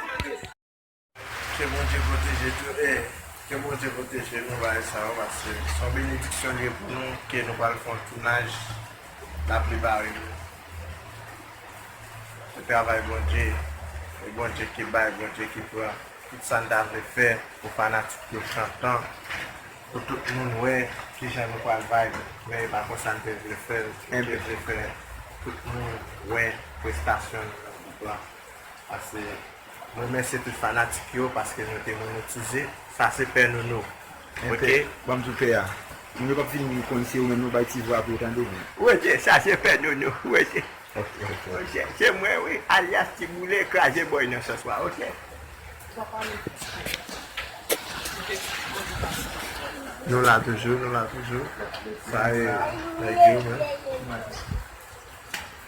Ke Bondye pwoteje tou e ke Bondye pwoteje nou bagay sa yo paske se yon benediksyon li ye pou nou ke nou pral fè yon tounaj la prepare nou se travay Bondye e Bondye ki bay Bondye ki pran tout sa n ta vle fè pou fanatik yo chantan pou tout moun wè kijan nou pral vibe men e pa konsa n te vle fè l nou te vle fè tout moun wè prestasyon nou nan group la. Pase m remèsye tout fanatik yo paske nou te monetize sa se pè nounou ok. Banm tou pè a. Moun yo pap fin konn se ou menm non bay ti vwa pou yo tande w. Ok sa se pè nounou ok. Ok se mwen wi alyas ti boule kraze bòy nan sòs la ok. Nou la toujou nou la toujou. Sa e nèg yo menm.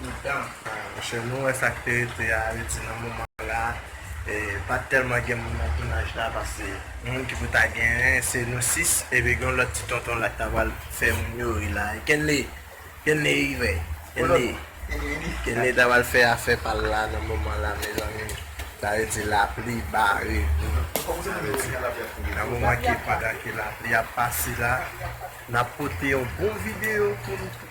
Mitan paske nou wè sak te rete a yo di nan moman la pat tèlman gen moun nan tounaj la paske moun ki pou ta genyen se nou 6 epi gen yon lòt ti tonton la ki ta pral fè moun yo ri la Kenley Kenley rive Kenley Kenley ta pral fè afè pal la nan moman la mezanmi sa vle di lapli bare nou sa vle di nan moman ke pandan ke lapli ap pase la nap pote yon bon video pou nou.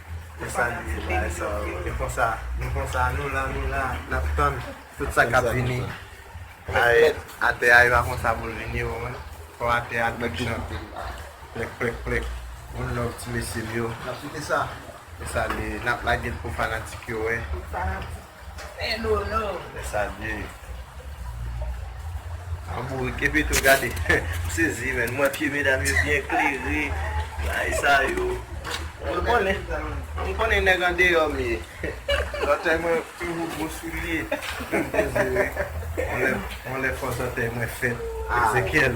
Mwen salye nou bay sa yo. E konsa, nou konsa, nou la, nou la, nap tann tout sa kap vini. Ay, atè a e pa konsa poul vini ou menm. Fò atè a tout jan. Plèk, plèk, plèk. One love ti mesye m yo. Nap kite sa. E sa li ye. Nap lage l pou fanatik yo wè. Hey Nono. Mwen salye yo. An bourik epi tou gade m sezi men m wè pye medam yo byen klere bagay sa yo ou konnen ou konnen nèg andeyò m ye zantèy mwen toujou gwo soulye m peze wi yon lè fò zantèy mwen fèt Ezekyèl.